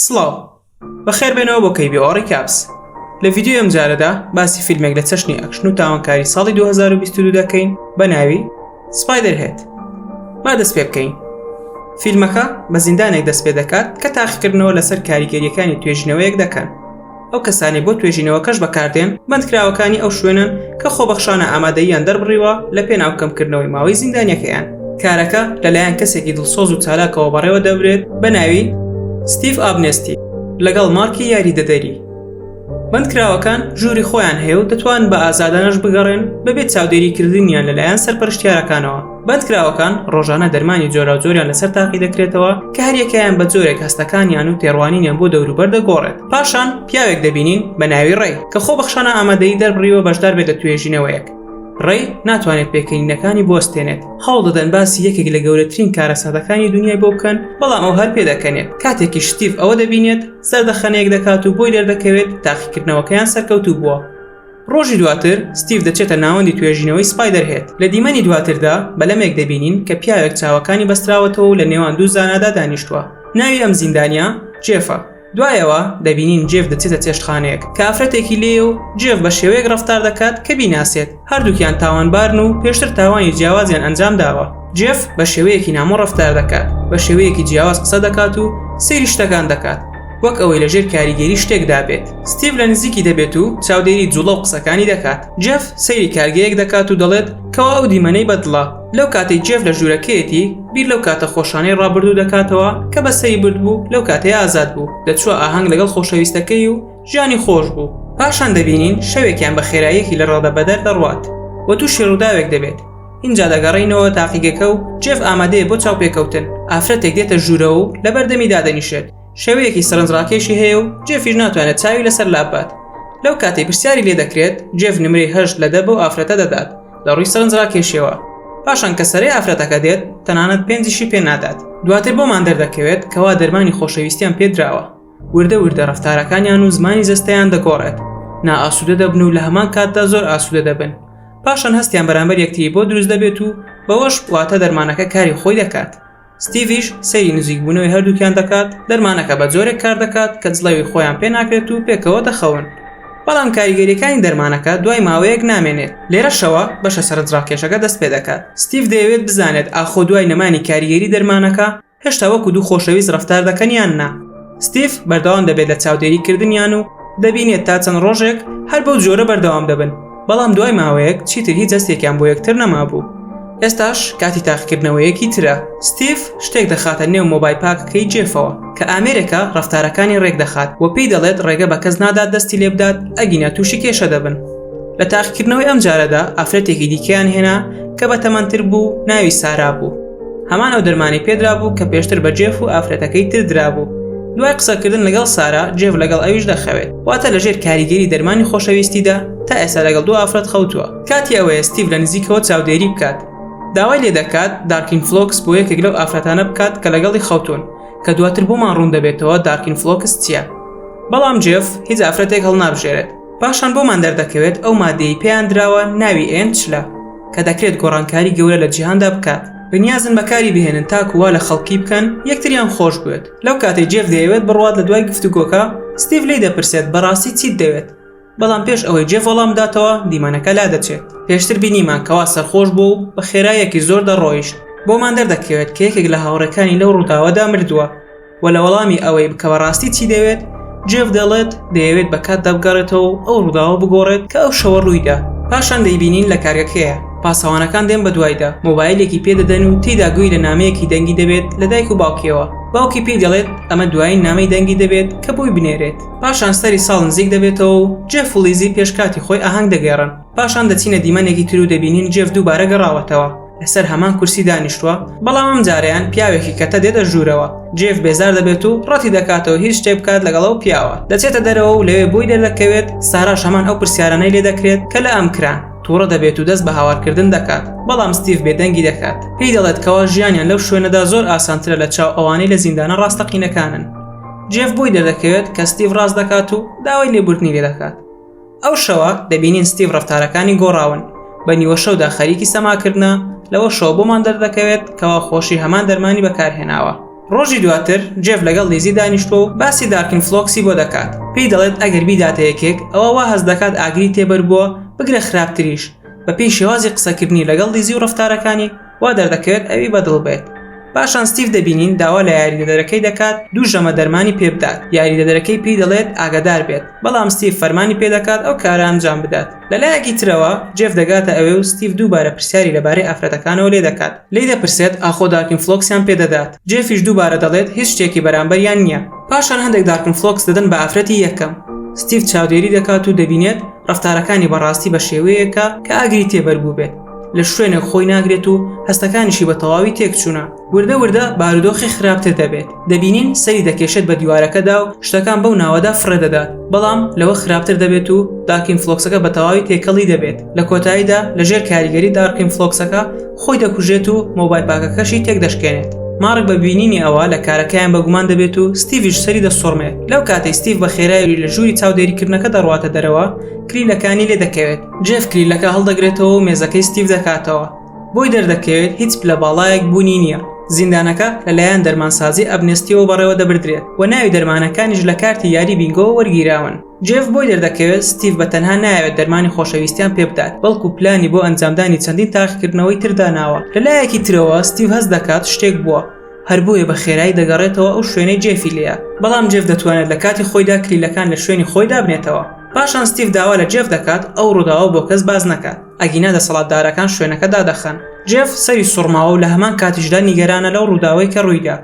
سڵاو، بەخێربێنەوە بۆ KBO Recaps. لە ڤیدیۆی ئەمجارەدا باسی فیلمێک لە چەشنی ئەکشن و تاوانکاری ساڵی 2022 دەکەین بە ناوی سپایدر هێت. با دەست پێ بکەین. فیلمەکە بە زیندانێک دەست پێ دەکات کە تاقیکردنەوە لەسەر کاریگەریەکانی توێژینەوەیەک دەکەن. ئەو کەسانەی بۆ توێژینەوەکەش بەکاردێن بەندکراوەکانی ئەو شوێنەن کە خۆبەخشانە ئامادەییان دەربڕیوە لە پێناو کەمکردنەوەی ماوەی زیندانیەکەیان کارەکە لەلایەن کەسێکی دڵسۆز و چالاکەوە بەڕێوە دەبرێت بە ناوی ستیف ئابنێستی لەگەڵ مارکی یاریدەدەری بەندکراوەکان ژووری خۆیان هەیە و دەتوان بە ئازادانەش بگەڕێن بەبێت چاودێری کردنیان لەلایەن سەرپەرشتیارەکانەوە بەندکراوەکان ڕۆژانە دەرمانی جۆراوجۆریان لەسەر تاقی دەکرێتەوە کە هەریەکەیان بە جۆرێک هەستەکانیان و تێڕوانینیان بۆ دەوروبەر دەگۆڕێت پاشان پیاوێک دەبینین بە ناوی ڕێ کە خۆ بەخشانە ئامادەی دەربڕیوە بەشدار بێت لە توێژینەوەیەک ڕێ ناتوانێت پێکەنینەکانی بستێنێت هەوڵ دەدەن باسی یەکێک لە گەورەترین کارە سادەکانی دنیای بۆ بکەن بەڵام ئەو هەر پێدەکەنێت کاتێکی شتیف ئەوە دەبینێت سەردەخەنەیەک دەکات و بۆی دەردەکەوێت تاقیکردنەوەکەیان سەرکەوتوو بووە ڕۆژی دواتر ستیڤ دەچێتە ناوەندی توێژینەوەی سپایدەرهێد، لە دیمەنی دواتردا بەلەمێک دەبینین کە پیاوێک چاوەکانی بەستراوەتەوە و لە نێوان دوو زانادا دانیشتووە، ناوی ئەم زیندانییە جێفە، دوای ئەوە دەبینین جێف دەچێتە چێشتخانەیەک کە ئافرەتێکی لێیە و جێف بە شێوەیەک ڕەفتار دەکات کە بیناسێت، هەردووکیان تاوانبارن و پێشتر تاوانی جیاوازیان ئەنجامداوە، جێف بە شێوەیەکی نامۆ ڕەفتار دەکات، بە شێوەیەکی جیاواز قسە دەکات و سەیری شتەکان دەکات. وەک ئەوەی لە ژێر کاریگەری شتێکدا بێت ستیڤ لە نزیکی دەبێت و چاودێری جوڵە و قسەکانی دەکات جف سەیری کارگەیەک دەکات و دەڵێت کەوا ئەو دیمەنەی بەدڵە لەو کاتەی جف لە ژوورەکەیەتی بیر لەو کاتە خۆشانەی ڕابردوو دەکاتەوە کە بەسەری بردبوو لەو کاتەی ئازاد بوو دەچووە ئاهەنگ لەگەڵ خۆشەویستەکەی و ژیانی خۆش بوو پاشان دەبینین شەوێکیان بە خێراییەکی لە ڕادەبەدەر دەڕوات و تووشی ڕووداوێک دەبێت ئینجا دەگەڕێینەوە تاقیگەکە و جێف ئامادەیە بۆ چاوپێکەوتن ئافرەتێک دێتە ژوورەوە و لە بەردەمی دادەنیشێت شێوەیەکی سەرنجڕاکێشی هەیە و جێفیش ناتوانێت چاوی لەسەر لابات لەو کاتی پرسیاری لێ دەکرێت جێف نمرەی هەشت لە دە بۆ ئافرەتە دەدات لە ڕووی سەرنجڕاکێشیەوە پاشان کە سەرەی ئافرەتەکە دێت تەنانەت پێنجشی پێ نادات دواتر بۆمان دەردەکەوێت کەوا دەرمانی خۆشەویستیان پێدراوە وردە وردە ڕەفتارەکانیان و زمانی جەستەیان دەگۆڕێت نائاسوودە دەبن و لە هەمان کاتدا زۆر ئاسوودە دەبن پاشان هەستیان بەرامبەر یەکتری بۆ دروست دەبێت و بەوەش واتە دەرمانەکە کاری خۆی دەکات ستیڤش سەیری نزیکبوونەوەی هەردووکیان دەکات دەرمانەکە بە جۆرێک کار دەکات کە جڵەوی خۆیان پێ ناکرێت و پێکەوە دەخەون بەڵام کاریگەریەکانی دەرمانەکە دوای ماوەیەک نامێنێت لێرەشەوە بەشە سەرنجڕاکێشەکە دەست پێ دەکات ستیڤ دەیەوێت بزانێت ئاخۆ دوای نەمانی کاریگەری دەرمانەکە هێشتا وەکو دوو خۆشەویست ڕەفتار دەکەن یان نا ستیف بەردەوام دەبێت لە چاودێری کردنیان و دەبینێت تا چەند ڕۆژێک هەر بەو جۆرە بەردەوام دەبن بەڵام دوای ماوەیەک چیتر هیچ هەستێکیان بۆ یەکتر نەمابوو ئێستاش کاتی تاقیکردنەوەیەکی ترە ستیف شتێک دەخاتە نێو مۆبای پاکەکەی جێفەوە کە ئامێرێکە ڕەفتارەکانی ڕێک دەخات و پێی دەڵێت ڕێگە بە کەس نادات دەستی لێ بدات ئەگینا تووشی کێشە دەبن لە تاقیکردنەوەی ئەم جارەدا ئافرەتێکی دیکەیان هێنا کە بە تەمەندتر بوو ناوی سارا بوو هەمان ئەو دەرمانی پێدرابوو کە پێشتر بە جێف و ئافرەتەکەی تر درابوو دوای قسەکردن لەگەڵ سارا جێف لەگەڵ ئەویش دەخەوێت واتە لەژێر کاریگەری دەرمانی خۆشەویستیدا تا ئێستا لەگەڵ دوو ئافرەت خەوتووە کاتی ئەوەیە ستیڤ لە نزیکەوە چاودێری بکات داوای لێ دەکات دارکین فلۆکس بۆ یەکێک لەو ئافرەتانە بکات کە لەگەڵی خەوتون کە دواتر بۆمان ڕوون دەبێتەوە دارکین فلۆکس چییە بەڵام جێف هیچ ئافرەتێک هەڵنابژێرێت پاشان بۆمان دەردەکەوێت ئەو مادەیەی پێیان دراوە ناوی ئێن چلە کە دەکرێت گۆڕانکاری گەورە لە جیهاندا بکات بەنیازن بەکاری بهێنن تاکو وا لە خەڵکی بکەن یەکتریان خۆش بوێت لەو کاتەی جێف دەیەوێت بڕوات لە دوای گفتوگۆکە ستیڤ لێی دەپرسێت بەڕاستی چیت دەوێت بەڵام پێش ئەوەی جێف وەڵام بداتەوە دیمەنەکە لادەچێت پێشتر بینیمان کەوا سەرخۆش بوو و بە خێرایەکی زۆر دەڕۆیشت بۆمان دەردەکەوێت کە یەکێک لە هاوڕێکانی لەو ڕووداوەدا مردووە و لە وەڵامی ئەوەی کە بەڕاستی چی دەوێت، جێف دەڵێت، دەیەوێت بە کاتدا بگەڕێتەوە و ئەو ڕووداوە بگۆڕێت کە ئەو شەوە ڕوویدا. پاشان دەیبینین لە کارگەکەیە، پاسەوانەکان دێن بەدوایدا، مۆبایلێکی پێ دەدەن و تێیدا گوێی لە نامەیەکی دەنگی دەبێت لە دایک و باوکیەوە. باوکی پێی دەڵێت ئەمە دوایین نامەی دەنگی دەبێت کە بۆی بنێرێت. پاشان سەری ساڵ نزیک دەبێتەوە و جێف و لیزی پێش کاتی خۆی ئاهەنگ دەگێڕن. پاشان دەچینە دیمەنێکی تر و دەبینین جێف دووبارە گەڕاوەتەوە. لەسەر هەمان کورسی دانیشتووە بەڵام ئەم جارەیان پیاوێکی کەتە دێتە ژوورەوە جێف بێزار دەبێت و ڕەتی دەکاتەوە هیچ شتێ بکات لەگەڵ ئەو پیاوە دەچێتە دەرەوە و لەوێ بۆی دەردەکەوێت سارا شەمان ئەو پرسیارانەی لێ دەکرێت کە لە ئەم کران تووڕە دەبێت و دەست بە هاوارکردن دەکات بەڵام ستیف بێدەنگی دەکات پێی دەڵێت کەوا ژیانیان لەو شوێنەدا زۆر ئاسانترە لە چاو ئەوانەی لە زیندانە ڕاستەقینەکانن جێف بۆی دەردەکەوێت کە ستیف ڕاست دەکات و داوای لێبوردنی لێ دەکات ئەو شەوە دەبینین ستیڤ ڕفتارەکانی گۆڕاون بە نیوە شەودا خەریکی سەماکردە لەوە شەوە بۆمان دەردەکەوێت کەوا خۆشی هەمان دەرمانی بەکارهێناوە ڕۆژی دواتر جێف لەگەڵ لیزی دانیشتوە و باسی دارکن فلۆکسی بۆ دەکات پێی دەڵێت ئەگەر بیداتە یەکێک ئەوە وا هەز دەکات ئاگری تێبەر بووە بگرە خراپتریش بەپێی شێوازی قسەکردنی لەگەڵ لیزی و ڕفتارەکانی وا دەردەکەوێت ئەوی بەدڵ بێت. پاشان ستیڤ دەبینین داوا لە یاریدەدەرەکەی دەکات دوو ژەمە دەرمانی پێ بدات، یاریدەدەرەکەی پێی دەڵێت ئاگادار بێت، بەڵام ستیڤ فەرمانی پێ دەکات ئەو کارە ئەنجام بدات. لە لایەکی ترەوە، جێف دەگاتە ئەوێ و ستیڤ دووبارە پرسیاری لەبارەی ئافرەتەکانەوە لێ دەکات، لێی دەپرسێت ئاخۆ دارکینفڵۆکسیان پێ دەدات، جێفیش دووبارە دەڵێت هیچ شتێکی بەرامبەریان نییە. پاشان هەندێک دارکنفڵۆکس دەدەن بە ئافرەتی یەکەم، ستیڤ چاودێری دەکات و دەبینێت ڕەفتارەکانی بەڕاستی بە شێوەیەکە کە ئاگری تێ بەربووبێت. لە شوێنێک خۆی ناگرێت و هەستەکانیشی بە تەواوی تێکچوونە وردە وردە بارودۆخی خراپتر دەبێت دەبینین سەری دەکێشێت بە دیوارەکەدا و شتەکان بەو ناوەدا فڕێدەدات بەڵام لەوە خراپتر دەبێت و داکین فلۆکسەکە بە تەواوی تێکەڵی دەبێت لە کۆتاییدا لەژێر کاریگەری دارکین فلۆکسەکە خۆی دەکوژێت و مۆبای پاکەکەشی تێک دەشکێنێت مارک بە بینینی ئەوە لە کارەکەیان بەگومان دەبێت و ستیڤش سەری دەسوڕمێت لەو کاتەی ستیڤ بە خێرایی لە ژووری چاودێریکردنەکە دەڕواتە دەرەوە کلیلەکانی لێ دەکەوێت جێف کلیلەکە هەڵدەگرێتەوە و مێزەکەی ستیف دەکاتەوە بۆی دەردەکەوێت هیچ پلە باڵایەک بوونی نییە زیندانەکە لەلایەن دەرمانسازی ئەبنستیەوە بەڕێوە دەبردرێت و ناوی دەرمانەکانیش لە کارتی یاری بینگۆوە وەرگیراون جێف بۆی دەردەکەوێت ستیف بە تەنها ناوێت دەرمانی خۆشەویستیان پێ بدات بەڵکو پلانی بۆ ئەنجامدانی چەندین تاقیکردنەوەی ترداناوە لەلایەکی ترەوە ستیف هەست دەکات شتێک بووە هەر بۆیە بە خێرایی دەگەڕێتەوە ئەو شوێنەی جێفی لێیە، بەڵام جێف دەتوانێت لە کاتی خۆیدا کلیلەکان لە شوێنی خۆی دابنێتەوە. پاشان ستیڤ داوا لە جێف دەکات ئەو ڕووداوە بۆ کەس باس نەکات، ئەگینا دەسەڵاتدارەکان شوێنەکە دادەخەن. جێف سەری سوڕماوە و لە هەمان کاتیشدا نیگەرانە لەو ڕووداوەی کە ڕوویدا،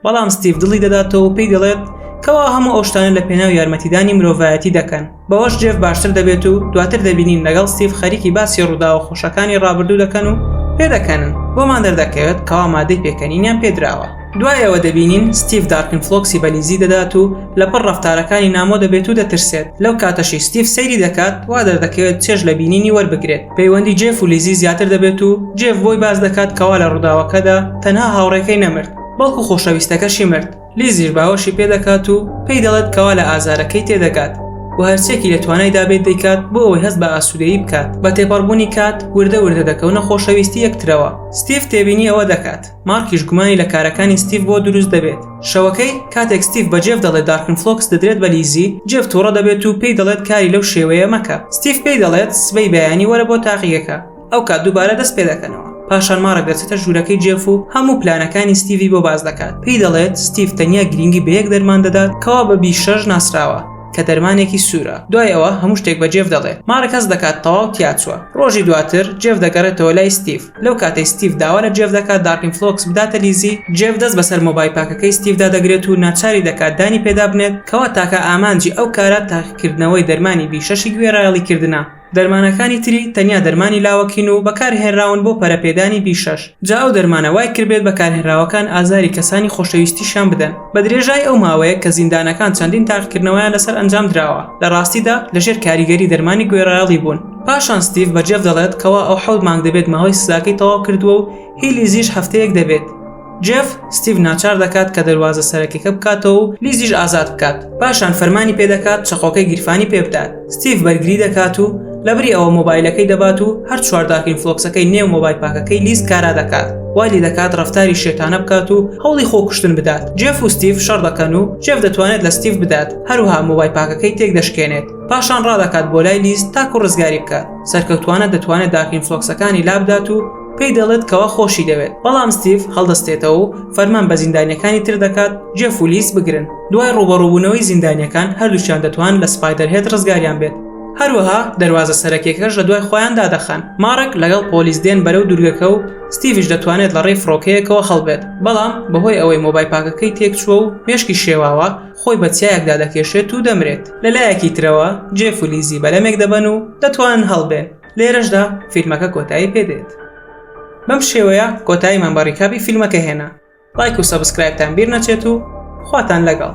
بەڵام ستیڤ دڵی دەداتەوە و پێی دەڵێت کەوا هەموو ئەو شتانە لەپێناو یارمەتیدانی مرۆڤایەتی دەکەن. بەوەش جێف باشتر دەبێت و دواتر دەبینین لەگەڵ ستیف خەریکی باسی ڕووداوە خۆشەکانی ڕابردوو دەکەن و پێدەکەنن بۆمان دەردەکەوێت کەوا مادەی پێکەنینیان پێدراوە دوای ئەوە دەبینین ستیف دارکن فلۆکسی بەلیزی دەدات و لەپڕ ڕفتارەکانی نامۆ دەبێت و دەترسێت لەو کاتەشی ستیف سەیری دەکات وا دەردەکەوێت چێژ لە بینینی وەربگرێت پەیوەندی جێف و لیزی زیاتر دەبێت و جێف بۆی باس دەکات کەوا لە ڕووداوەکەدا تەنها هاوڕێکەی نەمرد بەڵکو خۆشەویستەکەشی مرد لیزیش باوەشی پێ دەکات و پێی دەڵێت کەوا لە ئازارەکەی تێدەگات و هەرچیەکی لە توانایدا بێت دەیکات بۆ ئەوەی هەست بە ئاسوودەیی بکات بە تێپەڕبوونی کات وردە وردە دەکەونە خۆشەویستی یەکترەوە ستیف تێبینی ئەوە دەکات مارکیش گومانی لە کارەکانی ستیف بۆ دروست دەبێت شەوەکەی کاتێک ستیف بە جێف دەڵێت دارکن فلۆکس دەدرێت بە لیزی جێف تووڕە دەبێت و پێی دەڵێت کاری لەو شێوەیە مەکە ستیف پێی دەڵێت سبەی بەیانی وەرە بۆ تاقیگەکە ئەو کات دووبارە دەست پێ دەکەنەوە پاشان مارە گەرچێتە ژوورەکەی جێف و هەموو پلانەکانی ستیڤی بۆ باز دەکات پێی دەڵێت ستیف تەنیا گرنگی بە یەک دەرمان دەدات کەوا بە بی شەش ناسراوە کە دەرمانێکی سوورە دوای ئەوە هەموو شتێک بە جێف دەڵێت مارەکەس دەکات تەواو تیاچوە ڕۆژی دواتر جێف دەگەڕێتەوە لای ستیف لەو کاتەی ستیف داوا لە جێف دەکات دارکین فلۆکس بداتە لیزی جێف دەست بەسەر مۆبای پاکەکەی ستیفدا دەگرێت و ناچاری دەکات دانی پێدا بنێت کەوا تاکە ئامانجی ئەو کارە تاقیکردنەوەی دەرمانی بی شەشی گوێڕایەڵی کردنە دەرمانەکانی تری تەنیا دەرمانی لاوەکین و بەکارهێنراون بۆ پەرەپێدانی بیشەش، جا ئەو دەرمانە وایکردبێت بەکارهێنراوەکان ئازاری کەسانی خۆشەویستیشیان بدەن. بە درێژایی ئەو ماوەیە کە زیندانەکان چەندین تاقیکردنەوەیان لەسەر ئەنجامدراوە، لە ڕاستیدا لەژێر کاریگەری دەرمانی گوێڕایەڵی بوون. پاشان ستیڤ بە جێف دەڵێت کەوا ئەو حەوت مانگ دەبێت ماوەی سزاکەی تەواو کردووە و هیلیزیش هەفتەیەک دەبێت. جێف ستیڤ ناچار دەکات کە دەروازە سەرەکیەکە بکاتەوە و لیزیش ئازاد بکات پاشان فەرمانی پێدەکات چەقۆکەی گیرفانی پێ بدات ستیڤ بەرگری دەکات و لەبری ئەوە مۆبایلەکەی دەبات و هەر چوارداکەین فلۆکسەکەی نێو مۆبای پاکەکەی لیز کارا دەکات والی دەکات ڕفتاری شێتانە بکات و هەوڵی خۆکوشتن بدات جێف و ستیف شەڕ دەکەن و جێف دەتوانێت لە ستیف بدات هەروها مۆبای پاکەکەی تێک دەشکێنێت پاشان ڕادەکات بۆ لای لیست تاکو ڕزگاری بکات سەرکەوتوانە دەتوانێت داکین فلۆکسەکانی لابدات و پێی دەڵێت کەوا خۆشی دەوێت بەڵام ستیڤ هەڵدەستێتەوە و فەرمان بە زیندانیەکانی تر دەکات جێف و لیس بگرن دوای ڕوبەڕوبوونەوەی زیندانیەکان هەردووچیان دەتوان لە سپایدەر هێت ڕزگاریان بێت هەروەها دەواازە سەرەکیەکەش لە دوای خۆیان دادەخەن مارک لەگەڵ پۆلیس دێن بەرەو دوورگەکە و ستیڤش دەتوانێت لە ڕێی فڕۆکەیەکەوە هەڵبێت بەڵام بەهۆی ئەوەی مۆبای پاکەکەی تێکچووە و مێشکی شێواوە خۆی بە چیایەکدا دەکێشێت و دەمرێت لەلایەکی ترەوە جێف و لیزی بەلەمێک دەبەن و دەتوانن هەڵبێن لێرەشدا فیلمەکە کۆتایی پێدێت بەم شێوەیە کۆتاییمان بە ڕیکابی فیلمەکە هێنا لایک و سەبسکرایبتان بیر نەچێت و خواتان لەگەڵ